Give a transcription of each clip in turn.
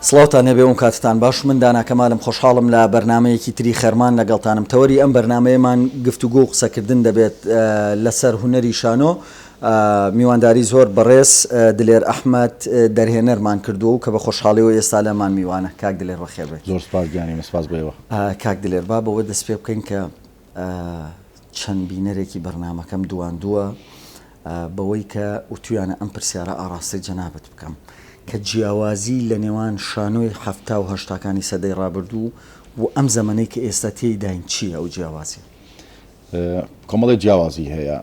سڵاوتان هەبێ و کاتتان باش من دانا کەمالم خۆشحاڵم لە بەرنامەیەکی تری خێرمان لەگەڵتانم تەوەری ئەم بەرنامەیەمان گفتوگۆ و قسەکردن دەبێت لەسەر هونەری شانۆ میوانداری زۆر بەڕێز دلێر ئەحمەد دەرهێنەرمان کردووە و کە بە خۆشحاڵیەوە ئێستا لەمان میوانە کاک دلێر بەخێربێت. زۆر سوپاس گیانی من سوپاس بۆ ئێوە. کاک دلێر با بەوە دەست پێ بکەین کە. چەند بینەرێکی بەرنامەکەم دواندووە بەوەی کە وتویانە ئەم پرسیارە ئاڕاستەی جەنابت بکەم کە جیاوازی لە نێوان شانۆی حەفتا و هەشتاکانی سەدەی ڕابردوو و ئەم زەمەنەی کە ئێستا تێیداین چییە ئەو جیاوازیە؟ کۆمەڵی جیاوازی هەیە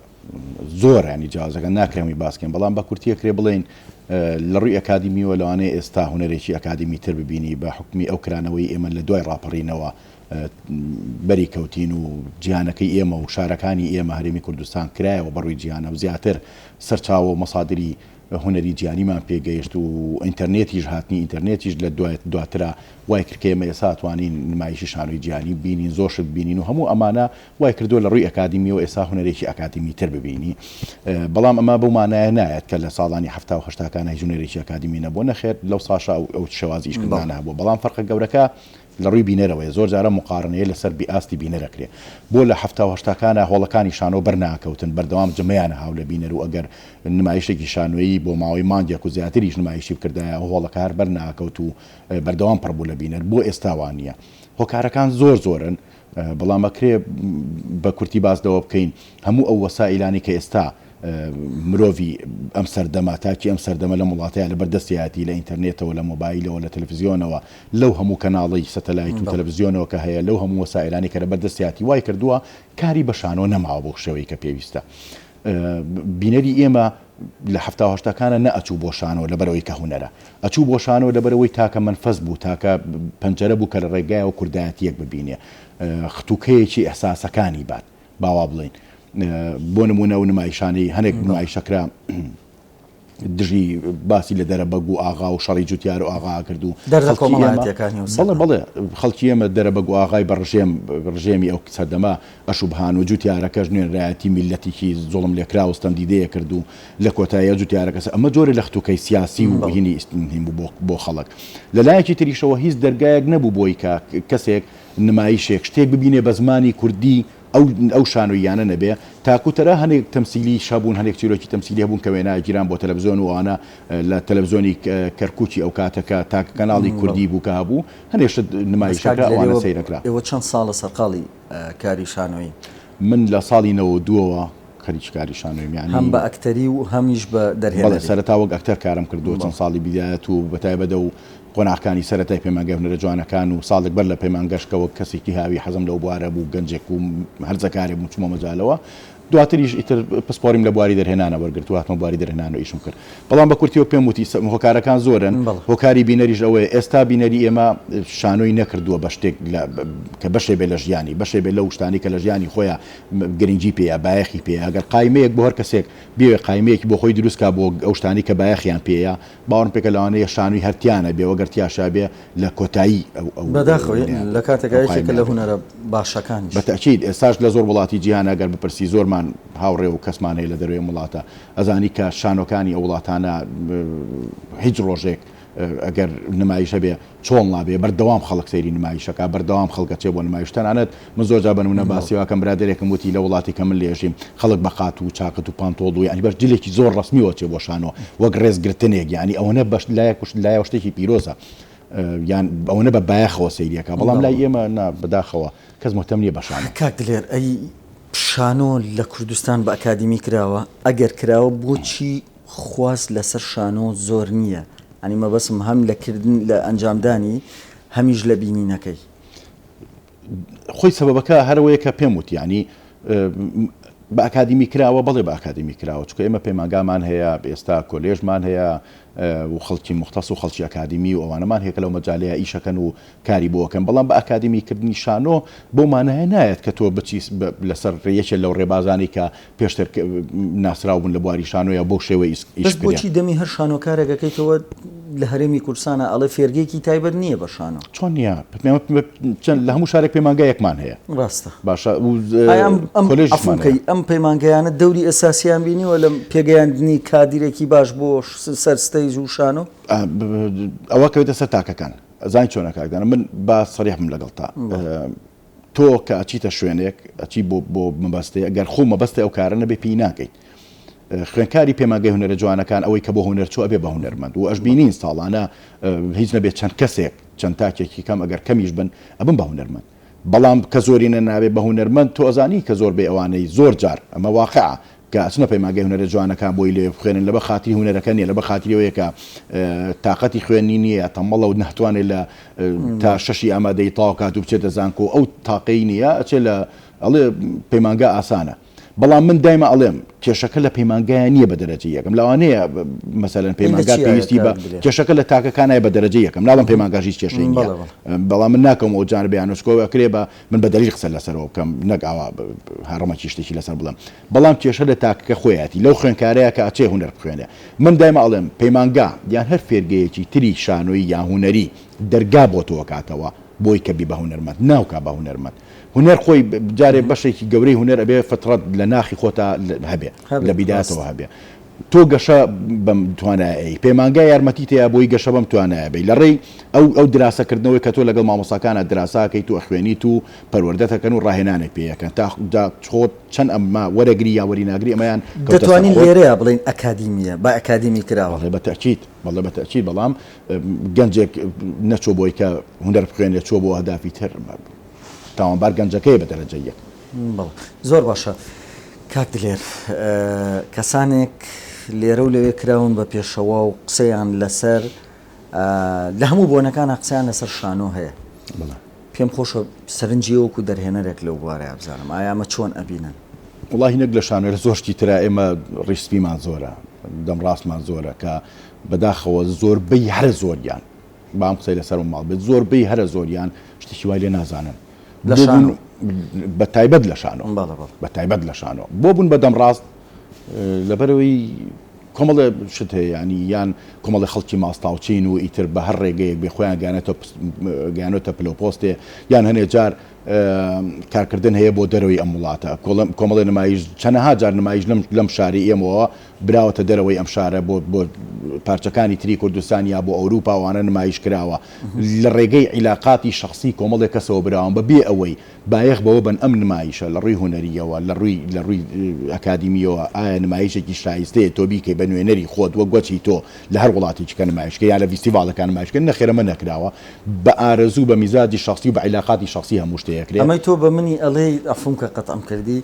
زۆر ینی جیازەکە ناکەمی باسکەین بەڵام بە کورتیە کرێ بڵین لە ڕووی ئەکادیمیوە لەوانەیە ئێستا هوەرێکی ئەکادیمی تر ببینی بە حکومی ئەو کرانەوەی ئێمە لە دوای ڕاپەڕینەوە بەری کەوتین و جیهانەکەی ئێمە و شارەکانی ئێمە هەرێمی کوردستان کرایەوە بە ڕووی جیهانەوە زیاتر سەرچاوە و مەسادری هونەری جیهانیمان پێ گەیشت و ئینتەرنێتیش هاتنی ئینتەرنێتیش لە دوای دواترا وای کرد کە ئێمە ئێستا توانین نمایشی شانۆی جیهانی بینین زۆر شت بینین و هەموو ئەمانە وای کردووە لە ڕووی ئەکادیمیەوە ئێستا هونەرێکی ئەکادیمی تر ببینی بەڵام ئەمە بەو مانایە نایەت کە لە ساڵانی هەفتا و هەشتاکانە هیچ هونەرێکی ئەکادیمی نەبووە نەخێر لەو ساشا ئەو شێوازی ئیشکردانە هەبووە بەڵام فەرقە گەورەکە لە ڕووی بینەرەوەیە زۆر جار ئەم موقارنەیە لە سەر بی ئاستی بینەر ئەکرێ بۆ لە حەفتا و هەشتاکانا هۆڵەکانی شانۆ بەر ناکەوتن بەردەوام جمەیانە هاو لە بینەر و ئەگەر نمایشێکی شانۆیی بۆ ماوەی مانگێک و زیاتریش نمایشی بکردایە ئەو هۆڵەکە هەر بەر ناکەوت و بەردەوام پڕ بوو لە بینەر بۆ ئێستا وا نییە هۆکارەکان زۆر زۆرن بەڵام ئەکرێ بە کورتی باس لەوە بکەین هەموو ئەو وەسائیلانەی کە ئێستا مرۆڤی ئەم سەردەمە تاکی ئەم سەردەمە لەم وڵاتەیە لەبەر دەستیاتی لە ئینتەرنێتەوە لە مۆبایلەوە لە تەلەفزیۆنەوە لەو هەموو کەناڵی سەتەلایت و تەلەفزیۆنەوە کە هەیە لەو هەموو وەسائلانی کە لەبەر دەستیاتی وای کردووە کاری بە شانۆ نەماوە بۆ شێوەی کە پێویستە بینەری ئێمە لە حەفتا و هەشتاکانا نەئەچوو بۆ شانۆ لەبەرئەوەی کە هونەرە، ئەچوو بۆ شانۆ لەبەرئەوەی تاکە مەنفەس بوو، تاکە پەنجەرە بوو کە لە ڕێگایەوە کوردایەتییەک ببینێ، ختووکەیەکی ئیحساسەکانی بات، با وا بڵێین. بۆ نموونە ئەو نمایشانەی هەنێک نمایشەکرا، دژی باسی لە دەرەبەگ و ئاغا و شەڕی جوتیار و ئاغا کرد و دەردە کۆمەڵایەتیەکانی و سەر بەڵێ خەڵکی ئێمە دەرەبەگ و ئاغای بە ڕژێم ڕژێمی ئەو سەردەمە ئەشوبهان و جوتیارەکەش نوێنەرایەتی میللەتێکی زوڵم لێکرا و ستەمدیدەیە کرد و لە کۆتاییە جوتیارەکەس ئەمە جۆرە لە ختوکەی سیاسی و بینی ئیستنهیم بوو بۆ بۆ خەڵک لە لایەکی تریشەوە هیچ دەرگایەک نەبوو بۆی کە کەسێک نمایشێک شتێک ببینێ بە زمانی کوردی ئەو ئەو شانۆییانە نەبێ تاکو تەرا هەنێک تەمسیلیش هەبوون هەنێک چیرۆکی تەمسیلی هەبوون کە وێنا گیران بۆ تەلەفزۆن و ئەوانە لە تەلەفزۆنی کەرکوکی ئەو کاتە کە تاکە کەناڵی کوردی بوو کە هەبوو هەنێ شت نمایشەکە ئەوانە سەیرە کرا. ئێوە چەند ساڵە سەرقاڵی کاری شانۆیین؟ من لە ساڵی نەوەد و دوو ەوە خەریکی کاری شانۆییم یانی هەم بە ئەکتەری و هەمیش بە دەرهێنەری؟ بەڵێ سەرەتا وەک ئەکتەر کارم کردووە چەند ساڵی بیدایەت و بە تایبەت ئەو قۆناغەکانی سەرەتای پەیمانگای هونەرە جوانەکان و ساڵێک بەر لە پەیمانگاش کە وەک کەسێکی هاوی حەزم لەو بوارە بوو گەنجێک بووم هەرزەکارێک بووم چوومە مەجالەوە دواتریش ئیتر پسپۆریم لە بواری دەرهێنانە وەرگرت و هاتمە بواری دەرهێنان و ئیشم کرد بەڵام بە کورتیەوە پێم وتی هۆکارەکان زۆرن هۆکاری بینەریش ئەوەیە ئێستا بینەری ئێمە شانۆی نەکردووە بە شتێک کە بەشێ بێ لە ژیانی بەشێ بێ لەو شتانی کە لە ژیانی خۆیان گرنگی پێەیە بایەخی پێەیە گەر قایمەیەک بۆ هەر کەسێک بێ قایمەیەکی بۆ خۆی دروستکە بۆ ئەو شتانی کە بایەخیان پێەیە باوەڕم پێکە لەوانەیە شانۆی هەر تیا نەبێ وەگەر تیا شابێ لە کۆتایی ئەو ئەو بەداخەوە ئەو نەیابێ لە کاتێکا ئەو یەکێکە قایمە لە نەبێ. هونەرە باشەکانیش. بەتەئکید ئێستاش لە زۆر وڵاتی جیهان ئەگەر بپرسی زۆرمان هاوڕێ و کەسمان هەیە لە دەروێ ئەم وڵاتە ئەزانی کە شانۆکانی ئەو وڵاتانە هیچ ڕۆژێک ئەگەر نمایش هەبێ چۆڵ نابێ بەردەوام خەڵک سەیری نمایشەکا بەردەوام خەڵک ئەچێ بۆ نمایش تەنانەت من زۆر جار بە نمونە باسی ئەوەکەم برادەرێکم وتی لە وڵاتی کە من لێژیم خەڵک بە قات و چاکەت و پانتۆڵ و یانی بەش جلێکی زۆر ڕەسمیەوە ئەچێ بۆ شانۆ وەک ڕێز گرتنێک یانی ئەوەنە بەش لایە کوشت لایەوە شتێکی پیرۆزە یان ئەوەنە بە بایەخەوە سەیری ئەکا بەڵام لای ئێمە نا بەداخەوە کەس مهتەم نیە بە شانۆ. کاک دلێر ئەی شانۆ لە کوردستان بە ئەکادیمی کراوە؟ ئەگەر کراوە بۆچی خواست لەسەر شانۆ زۆر نییە یانی مەبەستم هەم لە کردن لە ئەنجامدانی هەمیش لە بینینەکەی. خۆی سەبەبەکە هەرەوەیە کە پێم وت یانی بە ئەکادیمی کراوە بەڵێ بە ئەکادیمی کراوە چکە ئێمە پەیمانگامان هەیە ئێستا کۆلێژمان هەیە و خەڵکی موختەس و خەڵکی ئەکادیمی و ئەوانەمان هەیە کە لەو مەجالەیە ئیشەکەن و کاری بۆ ئەکەن بەڵام بە ئاکادمی کردنی شانۆ بەو مانایە نایەت کە تۆ بچی لەسەر یەکێ لەو ڕێبازانەی کە پێشتر ناسراو بوون لە بواری شانۆیە بەو شێوەی ئیش بکرێ. بەس بۆچی دەمی هەر شانۆکارێک ئەکەیتەوە لە هەرێمی کوردستانا ئەڵێ فێرگەیەکی تایبەت نییە بە شانۆ؟ چۆن نییە؟ لە هەموو شارێک پەیمانگایەکمان هەیە. ڕاستە. باشە و کۆلێژمان هەیە. ئەم پەیمانگایانە دەوری ئەساسیان بینیوە لە پێگەیاندنی کادیرێکی باش بۆ سەر ستەیج و شانۆ؟ ئەوە کەوێتە سەر تاکەکان. ئەزانی چۆنە کاک دانا من با سەریح بم لەگەڵتا تۆ کە ئەچیتە شوێنێک ئەچی بۆ بۆ مەبەستێ ئەگەر خۆ مەبەستی ئەو کارە نەبێ پێی ناکەیت خوێنکاری پێماگەی هونەرە جوانەکان ئەوەی کە بۆ هونەر چوە بێ بە هونەرمەند و ئەش بینین ساڵانە هیچ نەبێت چەند کەسێک چەند تاکێکی کەم ئەگەر کەمیش بن ئەبم بە هونەرمەند بەڵام کە زۆرینە نابێ بە هونەرمەند تۆ ئەزانی کە زۆر بەی ئەوانەی زۆر جار ئەمە واقعە کە ئەچنە پەیمانگای هونەرە جوانەکان بۆی لەوێ بخوێنن لەبە خاتری هونەرەکە نیە لەبە خاتری ئەوەیە کە تاقەتی خوێندنی نیە یا تەمەڵە و ناتوانێ لە تا شەشی ئامادەی تەواو کات و بچێتە زانکۆ ئەو تاقەی نیە ئەچێ لە ئەڵێ پەیمانگا ئاسانە بەڵام من دایمە ئەڵێم کێشەکە لە پەیمانگایە نییە بە دەرەجە یەکەم لەوانەیە مەسەرەن پەیمانگا پێویستی بە کێشەکە لە تاکەکانای بە دەرەجە یەکەم ناڵم پەیمانگاژی کێشەی بەڵام من ناکەم ئەو جار بیانۆچکۆوە کرێ بە من بە دەری قسە لەسەرەوە بکەم نەک ئاوا هەڕمە کیشتێکی لەسەر بڵم بەڵام کێشە لە تاکەکە خۆیەتی لەو خوێنکارەیە کە ئەچێ هوەر بخوێنێ من دایمە ئەڵێم پەیمانگا یان هەر فێرگەیەکی تری شانۆی یان هوەری دەرگا بۆ تۆکاتەوە بۆی کە بی بە هوەرمەند ناوکە بە هوەرمەند هونەر خۆی جارێ بەشێکی گەورەی هونەر ئەبێ فترەت لە ناخی خۆتا هەبێ لە بیداتەوە هەبێ تۆ گەشە بەم توانایەی پەیمانگا یارمەتی تەیە بۆی گەشە بەم توانایە بی لە ڕێی ئەو ئەو دراسەکردنەوەی کە تۆ لەگەڵ مامۆساکانە دراساکەیت و ئەخوێنیت و پەروەردەتەکەن و ڕاهێنانێک پێیەکەن تا خۆت چەند ئەمما وەرەگری یا وەریناگری ئەمەیان دەتوانین لێرەیە بڵین ئەکادیمیە با ئەکادیمی کراوە بە تاچیت بەڵێ بە تاچیت بەڵام گەنجێک نەچۆ بۆی کە هونەر بخوێنێت چۆ بۆ هەدافی تر تاوانبار گەنجەکەیە بە دەرەجە یەک. بەڵێ زۆر باشە کاک دلێر کەسانێک لێرە و لەوێ کراون بە پێشەوا و قسەیان لەسەر لە هەموو بۆنەکانا قسەیان لەسەر شانۆ هەیە پێم خۆشە سەرنجی وەکو دەرهێنەرێک لەو بوارەیە بزانم ئایا ئەمە چۆن ئەبینن وڵی نەک لە شانۆێر زۆر شتی تررا ئێمە ڕیسپیمان زۆرە دەم ڕاستمان زۆرە کە بەداخەوە زۆربەی هەر زۆریان با ئەم قسەی لەسەر ماڵ بێت زۆربەی هەرە زۆریان شتێکی وای لێ نازانن بە تایبەت لە شانۆ بە تایبەت لە شانۆ بۆ بوون بە دەمڕاست لەبەرەوەی کۆمەڵێ شت هەیەیانی یان کۆمەڵی خەڵکی ماستاوچین و ئیتر بە هەر ڕێگەیەک بێ خۆیان گیانێتە پلۆپۆستێ یان هەنێ جار کارکردن هەیە بۆ دەرەوەی ئەم وڵاتە کۆڵم کۆمەڵی نمایش چەنەها جار نمایش لەم لەم شاری ئێمەوە براوەتە دەرەوەی ئەم شارە بۆ بۆ پارچەکانی تری کوردستان یا بۆ ئەوروپا وانە نمایش کراوە لە ڕێگەی عیلاقاتی شخصی کۆمەڵێک کەسەوە براوان بە بێ ئەوەی بایەخ بەوە بن ئەم نمایشە لە ڕووی هونەریەوە لە ڕووی لە ڕووی ئەکادیمیەوە ئایا نمایشێکی شایستەیە تۆ بیکەی بە نوێنەری خۆت وەک گوەچی تۆ لە هەر وڵاتێکی کە نمایشکە یا لە ڤیستیڤاڵەکان نمایشکە نەخێر ئەمە نەکراوە بە ئارەزوو بە میزاجی شخصی و بە عیلاقاتی شخصی هەموو شتێ ئەکرێ. ئەمەی تۆ بە منی ئەڵێی عەفوم کە قەتعم کردی.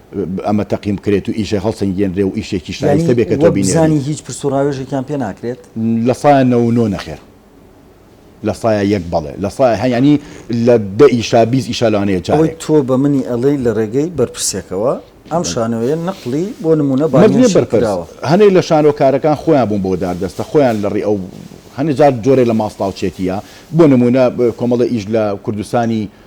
ئەمە تەقیم بکرێت و ئیشە هەڵسەنگێنرێ و ئیشێکی شایستە بێ کە تۆ بینێریت. یانی وەک بزانی هیچ پرس و ڕاوێژێکیان پێ ناکرێت؟ لە سایە نەوە و نۆ نەخێر. لە سایە یەک بەڵێ. لە سایە هە یانی لە دە ئیشا بیست ئیشا لەوانەیە جارێک. ئەوەی تۆ بە منی ئەڵێی لە ڕێگەی بەرپرسێکەوە ئەم شانۆیە نەقڵی بۆ نموونە بانگهێشت کراوە. مەرج نییە بەرپرس. هەنێ لە شانۆکارەکان خۆیان بوون بۆ داردەستە، خۆیان لە ڕێی ئەو هەنێ جار جۆرێ لە ماستاوچێتییە. بۆ نموونە کۆمەڵێ ئیش لە کوردستانی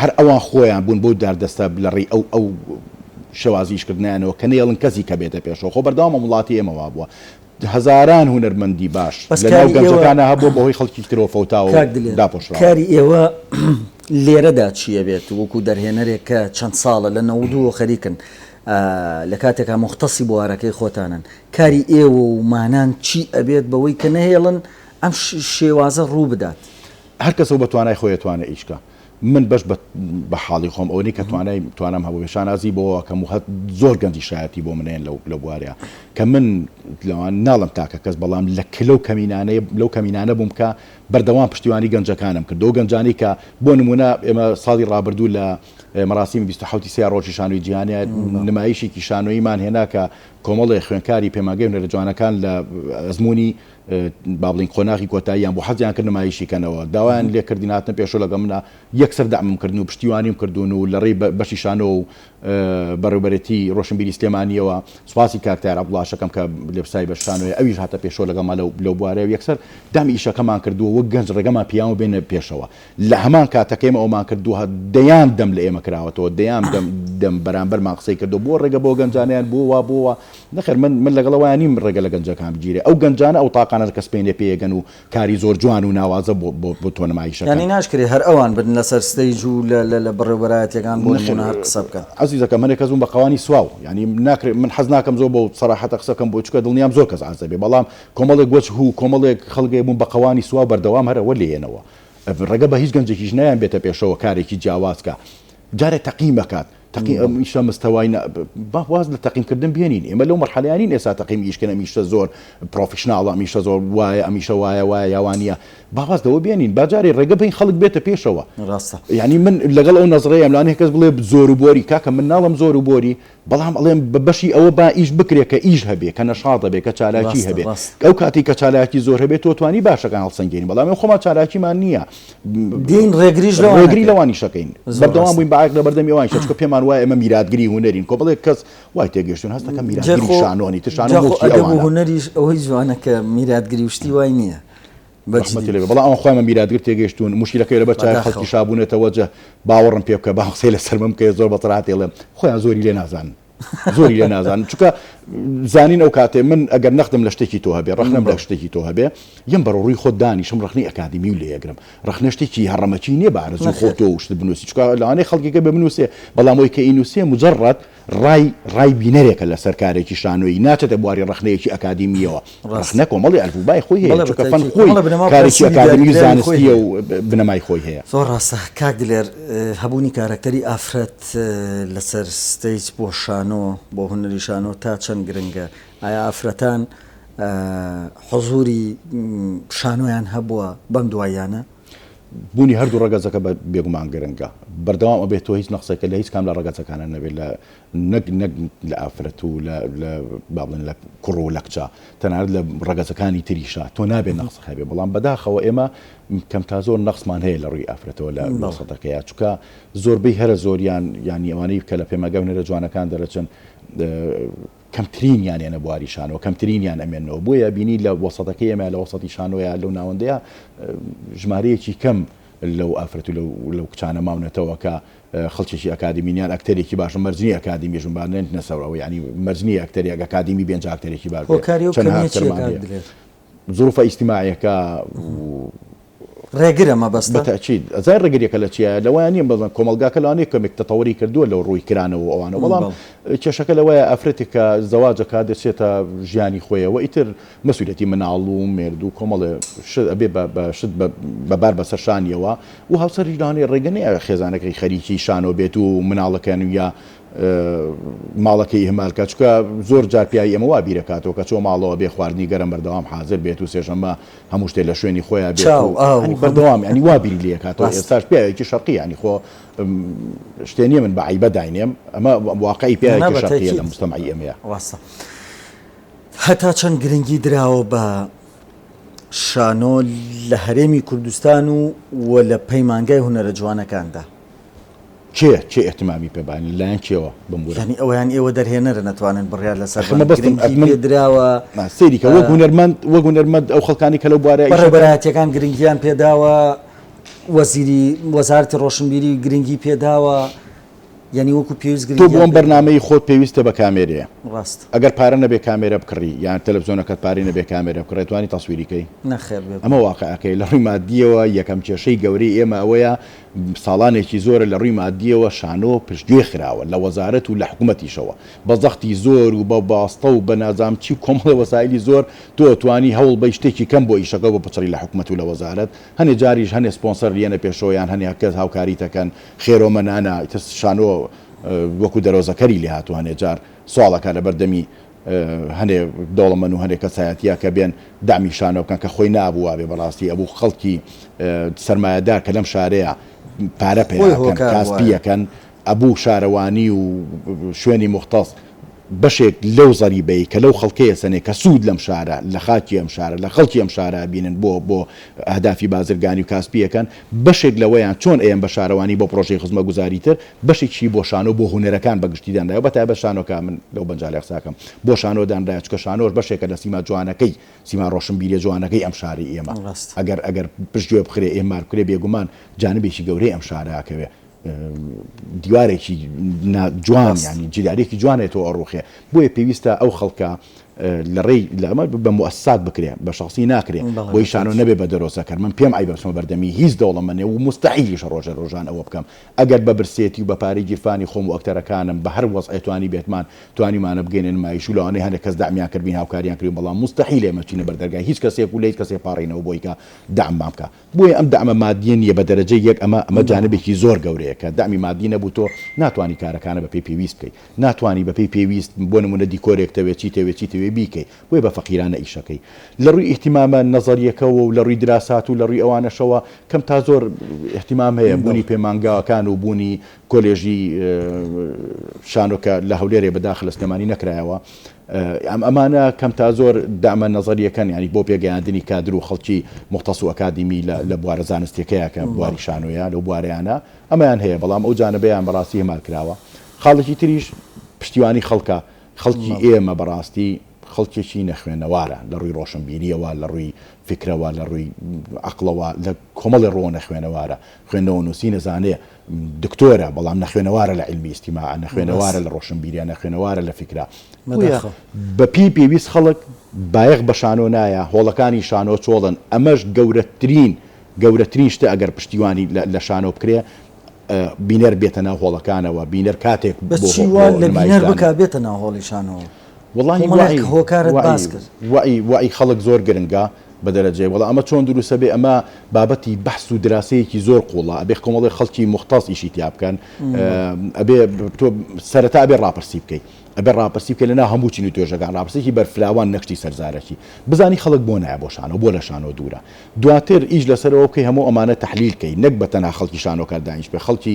هەر ئەوان خۆیان بوون بەو داردەستە لەڕێی ئەو ئەو شێوازی ئیشکردنیانەوە کە نەیەڵن کەسی کە بێتە پێشەوە، خۆ بەردەوام ئەم وڵاتی ئێمە وابووە هەزاران هونەرمەندی باش بەس لەناو کاری ئێوە گەنجەکانا هەبووە بەهۆی خەڵکی ترەوە فەوتاوە و کاک دلێر داپۆشراوە. کاری ئێوە لێرەدا چی ئەبێت وەکو دەرهێنەرێک کە چەند ساڵە لە نەوەد و خەریکن لە کاتێکا موختەسی بوارەکەی خۆتانن کاری ئێوە و مانان چی ئەبێت بەوەی کە نەهێڵن ئەم شێوازە ڕوو بدات؟ هەر کەسە و بە توانای خۆی ئەتوانێ ئیش کا. من بەش بە بە حاڵی خۆم ئەوەنەی کە توانای توانام هەبووبێ شانازی بەوە ئەکەم و هە زۆر گەنجی شایەتی بۆ من هەیەن لەو لەو بوارە کە من لەوان ناڵێم تاکە کەس بەڵام لە ک لەو کەمینانەی لەو کەمینانە بووم کە بەردەوام پشتیوانی گەنجەکانم کرد و گەنجانی کە بۆ نموونە ئێمە ساڵی ڕابردوو لە مەراسیمی بیست و حەوت ی سێ ڕۆژی شانۆی جیهانیە نمایشێکی شانۆییمان هێنا کە کۆمەڵێ خوێندکاری پەیمانگەی هونەرە جوانەکان لە ئەزموونی با بڵێین قۆناغی کۆتاییان بوو، حەزیان کرد نمایشی کەنەوە، داوایان لێ کردین هاتنە پێشەوە لەگەڵ منا، یەکسەر دەعمم کردن و پشتیوانیم کردوون و لە ڕێی بەشی شانۆ و بەڕێوەبەرێتی ڕۆشنبیری سلێمانییەوە سوپاسی کاک تایەر عەبدوڵاش ئەکەم کە لێپسای بەش شانۆیە ئەویش هاتە پێشەوە لەگەڵمان لەو بوارەیە و یەکسەر دەعمی ئیشەکەمان کردووە، وەک گەنج ڕێگەمان پیاون بێنە پێشەوە. لە هەمان کاتە کە ئێمە ئەوەمان کردووە، دەیان دەم لە ئێمە کراوەتەوە، دەیان دەم دەم بەرامبەرمان قسەی کردووە، بۆ ڕێگە بۆ گەنجانیان، بۆ وا، بۆ وا. نەخێر من من لەگەڵ ئەوەیان نیم ڕێگە لە گەنجەکان بگیرێ. ئەو گەنجانە ئەو تاقانە کە سپێنێ پێیەکەن و کاری زۆر جوان و ناوازە بۆ بۆ بۆ تۆ نمایش ئەکەن. یانی ناشکرێ هەر ئەوان بن لەسەر ستەیج و لە لە لە بەڕێوبەرایەتییەکان بۆ نەخێر نموونە هەر قسە بکەن. عەزیزەکەم هەنێ کەس بوون بە قەوانی سواو. یانی ناکرێ من حەز ناکەم زۆر بەو سەراحەتە قسە بکەم بۆ چونکە دڵنیام زۆر کەس عاجز ئەبێ بەڵام کۆمەڵێک وەجه و کۆمەڵێک خەڵکێ بوون بە قەوانی سواو بەردەوام هەر ئەوە لێیەنەوە. ڕێگە بە هیچ گەنجێکیش نایەن بێتە پێشەوە کارێکی جیاواز کا جارێ تەقیم ئەکات تەقی ئەم ئیشە مستەوای نە با واز لە تەقیمکردن بێنین ئێمە لەو مەرحەلەیە نین ئێستا تەقیم ئیشکەن ئەمیشە زۆر پرۆفیشناڵە ئەمیشە زۆر وایە ئەمیشە وایە وایە یاوانە با واز لەوە بێنین با جارێ ڕێگە بین خەڵک بێتە پێشەوە ڕاستە یعنی من لەگەڵ ئەو نەزڕەیەم لانێ کەس بڵێ زۆر و بۆری کاکە من ناڵم زۆر و بۆری بەڵام ئەڵێم بە بەشی ئەوە با ئیش بکرێ کە ئیش هەبێ کە نەشاط هەبێ کە چالاکی ڕاستە هەبێ ڕاستە ئەو کاتەی کە چالاکی زۆر هەبێ تۆ توانی باشەکان هەڵسەنگێنی بەڵام ئێ خۆمان چالاکیمان نییە دێین ڕێگریش لەوان ڕێگری نەکەین لەوانیش ئەکەین زۆر بەردەوام ڕاستە بووین بە عەیب لەبەردەمی ئەوان ئیشە چکە پێمان وایە ئێمە میراتگری هونەرین کۆمەڵێک کەس وای تێگەیشتوون هەست دەکەم جا میراتگری خۆ شانۆنی تر شانۆ جا خۆ موڵکی ئەدەب و ئەوانە هونەریش ئەوەی جوانە کە میراتگری و شتی وای نییە ڕەحمەتی لێ بێ بەڵام ئەوان خۆیان بە میراتگر تێگەیشتوون موشکیلەکەی لەبەر چاوی خەڵکی شا بوونەتە وەجە باوەڕم پێ بکە با قسەی لەسەر من بکەی زۆر بە سەراحەت ئێڵێم خۆیان زۆری لێ نازانن زۆری لێ نازانن چونکە زانین ئەو کاتێ من ئەگەر نەختم لە شتێکی تۆ هەبێ ڕەخنەم لە شتێکی تۆ هەبێ یەم بەرە ڕووی خۆت دانیشم ڕەخنەی ئەکادیمی و لێگرم ڕەخنە شتێکی هەڕەمەکی نییە بە ئارەزووی خۆت تۆ شت بنووسی چونکە لەوانەیە خەڵکێکە بێ بنووسێ بەڵام ئەوی کە ئینووسێ مجەڕەد ڕای ڕای بینەرێکە لەسەر کارێکی شانۆیی، ناچێتە بواری ڕەخنەیەکی ئەکادیمییەوە. ڕەخنە ڕاستە. کۆمەڵی ئەلفوبای خۆی هەیە، بەڵێ بە چونکە فەن تاکید خۆی کۆمەڵە بنەما کارێکی پرەنسیبی ئەکادیمی و دیاریکراوی خۆی زانستییە هەیە. و بنەمای خۆی هەیە. زۆر ڕاستە کاک دلێر، هەبوونی کارەکتەری ئافرەت لەسەر ستەیج بۆ شانۆ، بۆ هونەری شانۆ تا چەند گرنگە؟ ئایا ئافرەتان حوزووری شانۆیان هەبووە بەم دواییانە؟ بوونی هەردوو ڕەگەزەکە بێگومان گرنگە بەردەوام ئەبێت تۆ هیچ نەخسێکە لە هیچ کام لە ڕەگەزەکانە نەبێت لە نەک نەک لە ئافرەت و لە بابن لە کوڕ و لەکچە تەنارد لە ڕەگەزەکانی تریشە تۆ نابێت نەخس هەبێ بەڵام بەداخەوە ئێمە کەم تا زۆر نەخسمان هەیە لە ڕووی ئافرەتەوە لە مەسەدەکەیە چکە زۆربەی هەرە زۆریان ینی ئەوانەی کە لە پێمەگەونەرە جوانەکان دەرەچن کەمترینیان یەنە بواری شانۆ کەمترینیان ئەمێنەوە بۆیە بینی لە وەسەتەکەی ئێمە لە وەسەتی شانۆیە لەو ناوەندەیە ژمارەیەکی کەم لەو ئافرەت و لەو کچانە ماونەتەوە کە خەڵکیی ئەکادیمینیان ئەکتەرێکی باش مەرجنی ئەکادیمی ژمبانێن نەسەرەوە ینی مەرجنی ئەکتەری ئەگەکادیمی بێنجاکتەرێکی باش هۆکاری زروفە ئیجتماعیەکە و ڕێگرە مەبەستە؟ بەتەئکید ئەزای ڕێگریەکە لە چیایە لەوەیان نیە بەزان کۆمەڵگاکە لەوانەیە کەمێک تەتەوری کردووە لەو ڕووی کرانەوە و ئەوانە بەڵام کێشەکە لەوەیە ئەفرەتێک کە زەواجەکە دەچێتە ژیانی خۆیەوە ئیتر مەسوولەتی مناڵ و مێرد و کۆمەڵێ شت ئەبێ بە شت بەبار بەسەر شانیەوە و هاوسەریش لەوانەیە ڕێگە نەیە خێزانەکەی خەریکی شانۆ بێت و مناڵەکەن یا ماڵەکەی ئیهمال کە چونکە زۆر جار پیاوی ئێمە وا بیرەکاتەوە کە چۆ ماڵەوە بێ خواردنی گەرم بەردەوام حازر بێت و سێشەممە هەموو شتێ لە شوێنی خۆیان بێت و هەنی بەردەوام ینی وا بیری لێکاتەوە ئێستاش پیاوێکی شەرقی ینی خۆ شتێ نیە من بە عیبە داینێم ئەمە واقعی پیاوێکی شەرقیە لە مستەمعی ئێمەیە ڕاستە هەتا چەند گرنگی دراوە بە شانۆ لە هەرێمی کوردستان و وە لە پەیمانگای هونەرە جوانەکاندا کێ کێ ئیهتمامی پێ بایە لە لایەن کێوە بمبورە؟ یانی ئەوە یان ئێوە دەرهێنەرن ئەتوانن بڕیار لەسەر ئەخە بەن مەبەستم گرنگی ئەخ من پێ دراوە نا سەیری کە وەک هونەرمەند وەک هونەرمەند ئەو خەڵکانی کە لەو بوارەیا ئیش ئەکەن بەڕێوەبەرایەتییەکان گرنگییان پێ داوە وەزیری وەزارەتی ڕۆشنبیری گرنگی پێ داوە یانی وەکو پێویست تۆ بۆ گرنگییان ئەم پێ نەداوە بەرنامەی خۆت پێویستە بە کامێرەیە ڕاستە ئەگەر پارە نەبێ کامێرە بکڕی یان تەلەفزیۆنەکەت پارەی نەبێ کامێرە بکڕی ئەتوانی تەسویری کەی؟ نەخێر بێ ئەمە گومان واقعەکەیە لە ڕووی ماددییەوە یەکەم کێشەی گەورەی ئێمە ئەوەیە ساڵانێکی زۆرە لە ڕووی ماددییەوە شانۆ پشتگوێ خراوە لە وەزارەت و لە حکومەتیشەوە بە زەختی زۆر و بە باستە و بە نازامچی و کۆمەڵە وەسایلی زۆر تۆ ئەتوانی هەوڵ بەی شتێکی کەم بۆ ئیشەکە بپچڕی لە حکومەت و لە وەزارەت هەنێ جاریش هەنێ سپۆنسەر ریەنە پێشەوە یان هەنێ کەس هاوکاریت ئەکەن خێرۆمەنانە ئیتر شانۆ وەکو دەرۆزەکەری لێهاتووە هەنێ جار سواڵ ئەکا لەبەر دەمی هەنێ دەوڵەمەن و هەنێ کەسایەتیە کە بێن دەعمی شانۆ بکەن کە خۆی نابوو وابێ بەڕاستی ئەبوو خەڵکی سەرمایەدار کە لەم شارەیە پارە پەیا خۆی هۆکار کاس وایە. پیەکەن ئەبوو شارەوانی و شوێنی موختەس بەشێک لەو زەریبەی کە لەو خەڵکەیە سەنێ کە سوود لەم شارە لە خاکی ئەم شارە لە خەڵکی ئەم شارە ئەبینن بۆ بۆ ئەهدافی بازرگانی و کاسپی ئەکەن بەشێک لەوەیان چۆن ئەیەن بە شارەوانی بۆ پرۆژەی خزمەتگوزاری تر، بەشێکیشی بۆ شانۆ و بۆ هونەرەکان بە گشتی دانرایەوە، بە تایبەت شانۆ کە من لەو بەنجالە قسە ئەکەم بۆ شانۆ دانرایە، چونکە شانۆش بەشێکە لە سیما جوانەکەی، سیما ڕۆشنبیرییە جوانەکەی ئەم شاری ئێمە، ئەگەر ئەگەر پشتگوێ بخرێ، ئێهمال بکرێ، بێگومان جانبێکی گەورەی ئەم شارە ئەکەوێ، دیوارێکی نا جوان یانی جیدارێکی جوان لێتەوە ئەڕووخێ، بۆیە پێویستە ئەو خەڵکە لە ڕێی لە ئەمە بە موئەسسات بکرێ بە شەخسی ناکرێ بۆی شانۆ نەبێ بە دەرۆزە کەر من پێم عەیبە بچمە بەردەمی هیچ دەوڵەمەنێ و موستەحیلیشە ڕۆژێ ڕۆژان ئەوە بکەم ئەگەر بە برسێتی و بە پارەی گیرفانی خۆم و ئەکتەرەکانم بە هەر وەزعێ توانیبێتمان توانیمانە بگەینە نمایش و لەوانەیە هەنێ کەس دەعمیان کردبین هاوکاریان کردبین بەڵام موستەحیلە ئێمە بچینە بەردەرگای هیچ کەسێک و لە هیچ کەسێ پاڕێینەوە بۆی کە دەعممان بکا. بۆیە ئەم دەعمە مادیە نیە بە دەرەجەی یەک ئەمە ئەمە جانبێکی زۆر گەورەیە کە دەعمی مادی نەبوو تۆ ناتوانی کارەکانە بە پێی پێویست بکەی ناتوانی بە پێی پێویست بۆ نمونە دیکۆرێک تەوێ چی تەوێ چی تەوێ بیکەی بۆیە بە فەقیرانە ئیشەکەی لە ڕووی ئیهتیمامە نەزەریەکەوە و لە ڕووی دراسات و لە ڕووی ئەوانەشەوە کەم تا زۆر ئیهتیمام هەیە بوونی پەیمانگاکان و بوونی کۆلێژی شانۆ کە لە هەولێرێ بە داخلە سلێمانی نەکرایەوە ئەمانە کەم تا زۆر دەعمە نەزەرییەکەن یانی بۆ پێگەیاندنی کادر و خەڵکی موختەس و ئەکادیمی لە بوارە زانستیەکەیا کە بواری شانۆیە لەو بوارەیانە ئەمەیان هەیە بەڵام ئەو جانبەیان بەڕاستی هەمال کراوە خاڵێکی تریش پشتیوانی خەڵکە خەڵکی ئێمە بەڕاستی خەڵکێکی نەخوێنەوارە لە ڕووی ڕۆشنبیریەوە لە ڕووی فکرەوە لە ڕووی عەقڵەوە لە کۆمەڵی ڕۆ نەخوێنەوارە خوێندنەوە نووسینە زانێ دکتۆرە بەڵام نەخوێنەوارە لە علمی ئیستیماع نەخوێنەوارە لە ڕۆشنبیریان نەخوێنەوارە لە فیکرا بەپی پێویست خەڵک بایەخ بە شانۆ نایە هۆڵەکانی شانۆ چۆڵن ئەمەش گەورەترین گەورەترین شتە ئەگەر پشتیوانی لە شانۆ بکرێ بینەر بێتە ناو هۆڵەکانەوە بینەر کاتێک بەچی وا لە بینەر بک بێتە ناو هۆڵی شانەوە وڵی هۆکارت باس کرد وعی وعی خەڵک زۆر گرنگە بە دەرەجەیە وەڵا ئەمە چۆن دروستە بێ ئەمە بابەتی بەحس و دراسەیەکی زۆر قوڵە ئەبێ کۆمەڵی خەڵکی موختاز ئیشی تیا بکەن ئەبێ تۆ سەرەتا ئەبێ ڕاپرسی بکەیت ئەبێ ڕاپرسی بکە لەنا هەموو چین و توێژەکان ڕاپرسێکی بەرفراوان نەشتی سەرزارەکی بزانی خەڵک بۆ نایە بۆ شانەوە بۆ لە شانۆ دوورە دواتر ئیش لەسەرەوە بکەی هەموو ئەمانە تحلیلکەی نەک بە تەنها خەڵکی شانۆکار دانیش بێ خەڵکی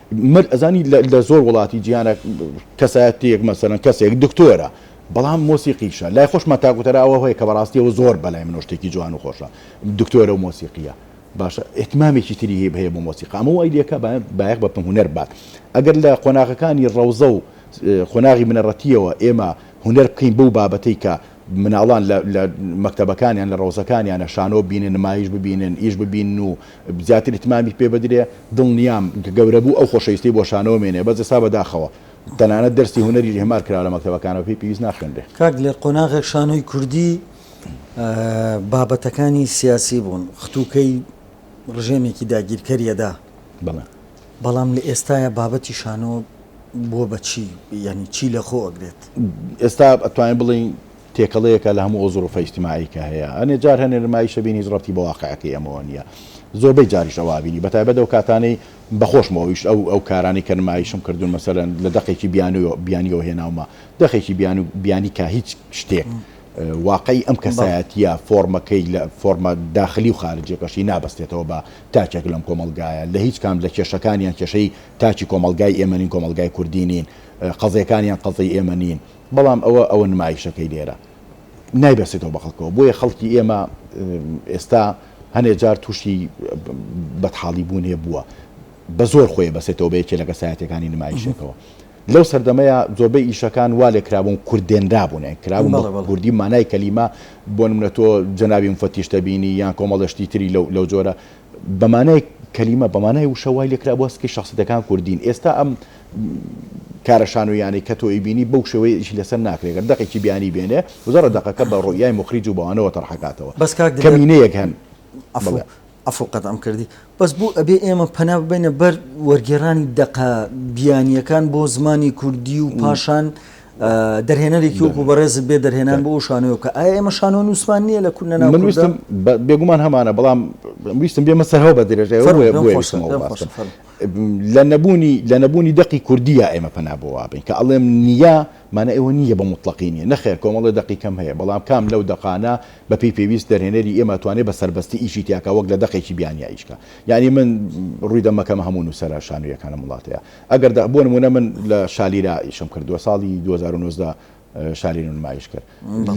مەرج ئەزانی لە زۆر وڵاتی جیهانە کەسایەتیەک مەسەرەن کەسێک دکتۆرە بەڵام مۆسیقیشە لای خۆشمان تاگوتەرا ئەوە هەیە کە بەڕاستیەوە زۆر بەلای منۆ شتێکی جوان و خۆشە دکتۆرە و مۆسیقیە باشە ئتمامێکی تری هەیە هەیە بۆ مۆسیقا ئەمە وای لەکە بایەق بە پم هوەر بات ئەگەر لە قۆناغەکانی ڕەوزە و قۆناغی منەڕەتیەوە ئێمە هوەر بکەین بەو بابەتەی کە مناڵان لە لە مەکتەبەکانیان لە ڕەوزەکانیانە شانۆ ببینن نمایش ببینن ئیش ببینن و زیاتر ئیتمامی پێ بدرێ دڵنیام کە گەورە بوو ئەو خۆشەویستەی بۆ شانۆ مێنێ بەس ئێستا بەداخەوە تەنانەت دەرسی هونەریش هێمار کراوە لە مەکتەبەکانەوە پێی پێویست ناخوێنرێ. کاک دلێر قۆناغێک شانۆی کوردی بابەتەکانی سیاسی بوون ختوکەی ڕژێمێکی داگیرکەریەدا بەڵێ. بەڵام لە ئێستایا بابەتی شانۆ بووە بە چی؟ یانی چی لە خۆ ئەگرێت؟ ئێستا ئەتوانین بڵێین تێکەڵەیەکە لە هەموو ئەو زڕوفە ئیجتیماعیەی کە هەیە. ئەنێ جار هەنێ نمایش ئەبینی هیچ ڕەبتی بە واقعەکەی ئەمەوە نیە. زۆربەی جاریش ئەوە ئەبینی بە تایبەت ئەو کاتانەی بە خۆشمەوەیش ئەو ئەو کارانەی کە نمایشم کردوون مەسەلەن لە دەقێکی بیانوی بیانیەوە هێناومە دەقێکی بیان و بیانی کا هیچ شتێک واقعی ئەم کەسایەتیە فۆرمەکەی لە فۆرمە داخلی و خارجیەکەشی نابەستێتەوە بە تاکێک لەم کۆمەڵگایە، لە هیچ کام لە کێشەکانیان کێشەی تاکی کۆمەڵگای ئێمە نین، کۆمەڵگای کوردی نین، قەزیەکانیان قەزیەی ئێمە نین، بەڵام ئەوە ئەوە نمایشەکەی لێرە نایبەستێتەوە بە خەڵکەوە، بۆیە خەڵکی ئێمە ئێستا هەنێ جار تووشی بەدحاڵی بوون هەیە بووە بە زۆر خۆی بەسێتەوە بە یەکێ لە کەسایەتیەکانی نمایشێکەوە. لەو سەردەمەیا زۆربەی ئیشەکان وا لێکرابوون کورد دێنرابوون یان کرابوون بە کوردی مانای کەلیمە بۆ نمونە تۆ جەنابی موفەتیش دەبینی یان کۆمەڵە شتی تری لەو جۆرە بە مانای کەلیمە بە مانای وشە وای لێکرابووە سکی شەخسیەتەکان کوردین ئێستا ئەم کارە شانۆییانەی کە تۆی بینی بەو شێوەیە ئیشی لەسەر ناکرێت گەر دەقێکی بیانی بێنێ وزارە دەقەکە بە ڕوئیای مخریج و بەوانەوە تەرحەکاتەوە بەس کاک دلێر کەمینەیەک هەن عەفو عەفو قەتعم کردی بەس بۆ ئەبێ ئێمە پەنا ببەینە بەر وەرگێڕانی دەقە بیانییەکان بۆ زمانی کوردی و پاشان دەرهێنەرێکی وەکو بەڕێزت بێ دەرهێنان بۆ ئەو شانۆ بکە ئایا ئێمە شانۆ نووسمان نییە لە کورد نەنا من ویستم بێگومان هەمانە بەڵام ویستم بێمە سەرەوە بە درێژای لە نەبوونی لە نەبوونی دەقی کوردیە ئێمە پەنا بۆ وابین کە ئەڵێم نییە مانە ئێوە نییە بە مطلقی نیە نەخێر کۆمەڵی دەقی کەم هەیە بەڵام کام لەو دەقانە بەپێی پێویست دەرهێنەری ئێمە ئەتوانێ بە سەربەستی ئیشی تیا کا وەک لە دەقێکی بیانیا ئیش کا یانی من ڕووی دەمەکەمە هەموو نووسەرە شانۆییەکانم وڵاتەیە ئەگەر دە بۆ نموونە من لە شالیرا ئیشم کردووە ساڵی دوو هەزار و نۆزدە شالیرم نمایش کرد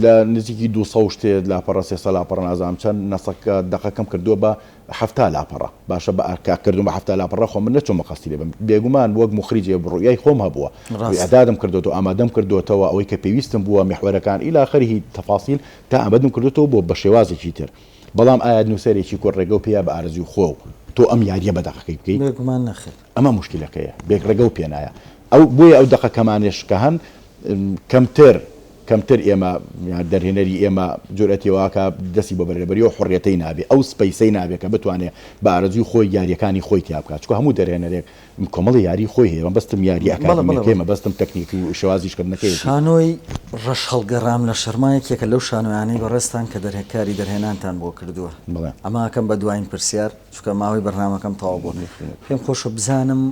لە نزیکی دوو سەد و شتێ لاپەڕە سێ سەد لاپەڕە نازانم چەند نەسەکە دەقەکەم کردووە بە حەفتا لاپەڕە باشە بە کاک کردم بە حەفتا لاپەڕە خۆ من نەچوومە قەستی لێ بم بێگومان وەک موخریج ئێ ڕوئیای خۆم هەبووە ڕێک ڕاست ئەدادم کردۆتەوە ئامادەم کردۆتەوە ئەوەی کە پێویستم بووە میحوەرەکان ئیلی ئاخریی تەفاسیل تا ئامەدم کردۆتەوە بۆ بە شێوازێکی تر بەڵام ئایا نووسەرێکی کورد ڕێگە و پێیە بە ئارەزووی خۆ و تۆ ئەم یارییە بە دەقەکەی بکەی؟ بێگومان نەخێر. ئەمە موشکیلەکەیە بێک ڕێگەو پێنایە ئەو بۆیە ئەو دەقە کەمانێش کە هەن کەمتر کەمتر ئێمە دەرهێنەری ئێمە جورئەتی واکە دەسی بۆ بەرێبەریەوە حڕەتی نابێ ئەو سپەیسەی نابێ کە بتوانێ بە ئارەزوی خۆی یاریەکانی خۆی تیا بکات چکە هەموو دەرهێنەرێک کۆمەڵی یاری خۆی هەیە بەستم یاری ئەکادمیەکەی مەبەستم تەکنیک و شوازیشکردنەکەی شانۆی ڕەش هەڵگەڕام لە شەرما یەکێکە لەو شانۆیانەی بەڕێزتان کە دەرهێکاری دەرهێنانتان بۆ کردووە ئەماکەم بە دواین پرسیار چونکە ماوەی بەرنامەکەم تەواو بووە نەیخوێنێت پێم خۆشە بزانم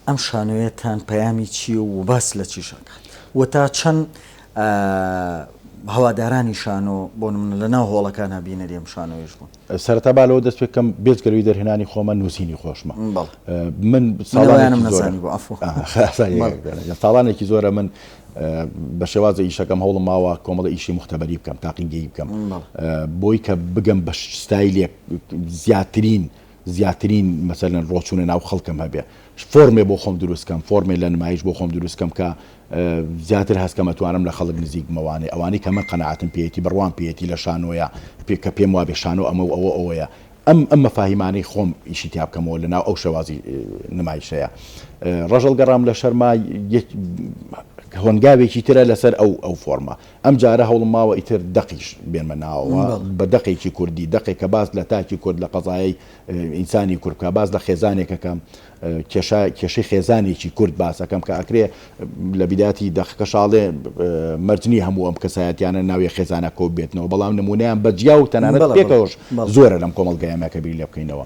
ئەم شانۆیەتان پەیامی چییە و باس لە چیش ئەکات و تا چەند هەوادارانی شانۆ بۆ من لە ناو هۆڵەکان هەبینەری ئەم شانۆیش بوون سەرەتا با لەوە دەست پێکەم بێجگەلوی دەرهێنانی خۆمە نووسینی خۆشمە بەڵێ من ساڵانم نەزانی بۆ عەفو ساڵانێکی زۆرە من بە شێوازە ئیشەکەم هەوڵم ماوە کۆمەڵە ئیشی مختبەری بکەم تاقیگەی بکەم بۆی کە بگەم بە ستایلێک زیاترین زیاترین مەسەلەن ڕۆچوونە ناو خەڵکم هەبێ فۆرمێ بۆ خۆم دروستکەم فۆرمێ لە نمایش بۆ خۆم دروستکەم کە زیاتر هەستکەمە توانم لە خەڵک نزیک مەوانێ ئەوانەی کە من قەنەعاتم پێیەتی بڕوام پێیەتی لە شانۆیە پێ کە پێم وابێ شانۆ ئەمە و ئەوە ئەوەیە ئەم ئەم مەفاهیمانەی خۆم ئیشی تیا بکەمەوە لە ناو ئەو شێوازی نمایشەیە ڕژەڵ گەڕام لە شەرما هۆنگاوێکی ترە لەسەر ئەو ئەو فۆرمە ئەم جارە هەوڵم ماوە ئیتر دەقیش بێنمە ناوەوە بە دەقێکی کوردی، دەقێک کە باس لە تاکی کورد، لە قەزایەی ئینسانی کورد بکا، باس لە خێزانێک ئەکەم، کێشە کێشەی خێزانێکی کورد باس ئەکەم کە ئەکرێ لە بیدایەتی دەقەکەشا ئەڵێ مەرج نییە هەموو ئەم کەسایەتییانە ناوی خێزانە کۆببێتنەوە، بەڵام نموونەیان بە جیا و تەنانەت پێکەوەش زۆرە لەم کۆمەڵگایە ئێمە کە بیر لێ بکەینەوە.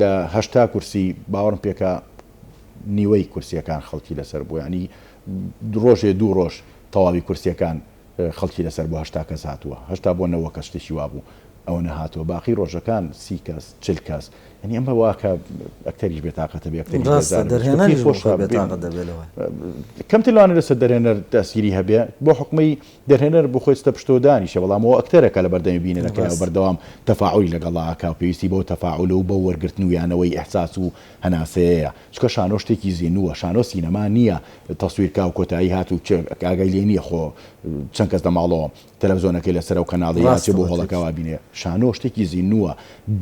لە هەشتا کورسی باوەڕم پێکا نیوەی کورسیەکان خەڵکی لەسەر بوو ینی ڕۆژێ دوو ڕۆژ تەواوی کورسیەکان خەڵکی لەسەر بۆ هەشتا کەس هاتووە هەشتا بۆ نەوە کە شتێکی وابوو ئەوە نەهاتەوە باقی ڕۆژەکان سی کەس چل کەس ینی ئەمە واکە ئەکتەریش بێتاقەتە بێ ئەکتەری خۆش کەمتر لەوانە لەسەر دەرێنەر دەسیری هەبێ بۆ حکومەی دەرهێنەر بۆ خۆی ستە پشتەوە دانیشێ، بەڵام ئەوە ئەکتەرە کە لە بەردەمی بینەرەکەیەوە ڕاستە. بەردەوام تەفاعولی لەگەڵا ئەکا و پێویستی بەو تەفاعول و بەو وەرگرتن و یانەوەی ئیحساس و هەناسەیەیە. چونکە شانۆ شتێکی زینووە. شانۆ سینەما نییە تەسویر کا و کۆتایی هات و کێ ئاگای لێ نییە خۆ چەند کەس لە ماڵەوە تەلەفزۆنەکەی لە سەرە و کەناڵی یا ڕاستە ئەچێ بۆ وتت. هۆڵەکا و ئابینێ. شانۆ شتێکی زینووە.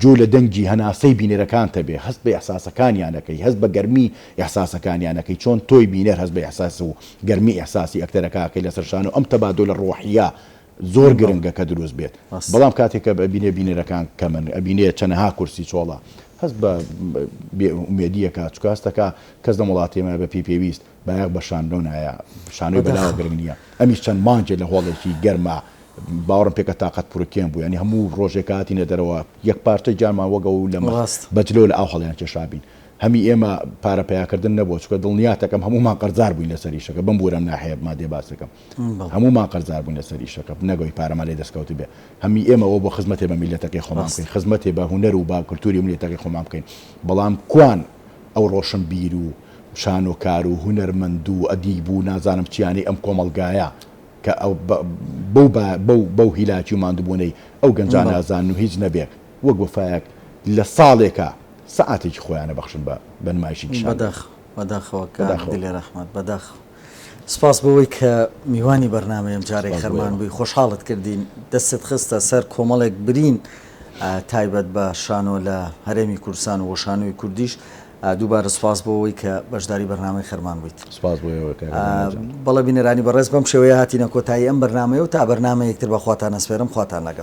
گوێ لە دەنگی هەناسەی بینەرەکانتە بێ، هەست بە ئیحساسەکانیان ئەکەی، هەست بە گەرمی ئیحساسەکان یانە کەی چۆن تۆی بینەر هەست بە ئیحساس و گەرمی ئیحساسی ئەکتەرەکە ئەکەی لەسەر شانۆ ئەم تەبادولە ڕۆحیە زۆر گرنگە کە دروست بێت بەڵام کاتێک کە ئەبینێ بینەرەکان کەمن ئەبینێ چەنەها کورسی چۆڵە هەست بە بێ ئومێدی ئەکا چکە هەست ئەکا کەس لەم وڵاتەی ئێمە بە پێی پێویست بایەخ بە شانۆ نایە شانۆی بەلاوە گرنگ نیە ئەمیش چەند مانگێ لە هۆڵێکی گەرما باوەڕم پێکە تاقەت پروکێن بوو یانی هەموو ڕۆژێک کە هاتینە دەرەوە یەک پارچە گیانمان وەک ئەو لەمە بە جلەوە لە ئاو هەڵیان کێشابین هەمی ئێمە پارە پەیاکردن نەبووە چونکە دڵنیاتەکەم هەموومان قەرزار بووین لەسەر ئیشەکە بم بوورەم ناحەیە مادێ باسەکەم هەموومان قەرزار بووین لەسەر ئیشەکە نەگەوی پارەمان لێ دەستکەوت بێ هەمی ئێمەوە بۆ خزمەتێ بە میلەتەکەی خۆمان بکەین خزمەتێ بە هونەر و با کلتوری ملێتەکەی خۆمان بکەین بەڵام کوان ئەو ڕۆشنبیر و شانۆکار و هونەرمەند و ئەدیب و نازانم چیانەی ئەم کۆمەڵگایە کە بەو بەو هیلاکی و ماندوبوونەی ئەو گەنجان نازان و هیچ نەبێت وەک وەفایەک لە ساڵێکا سەعاتێکی خۆیان ئەبەخشن بە بە نمایشی کشان. بەداخ بەداخەوە کاک بەداخەوە. دلێر ئەحمەد بەداخەوە. سپاس بۆ وەی کە میوانی بەرنامەی ئەم جارەی سپاس بۆ خەرمان ئێوە. بووی خۆشحاڵت کردین دەستت خستە سەر کۆمەڵێک برین ئا تایبەت بە شانۆ لە هەرێمی کوردستان و شانۆی کوردیش ئا دووبارە سپاس بۆ وەی کە بەشداری بەرنامەی خەرمان بوویت. سپاس بۆ ئێوە کاک ئا دانە جان. بەڵێ بینەرانی بەڕێز بەم شێوەیە هاتینە کۆتایی ئەم بەرنامەیە و تا بەرنامەیەکتر بە خواتان ئەسپێرم خواتان لەگەڵ.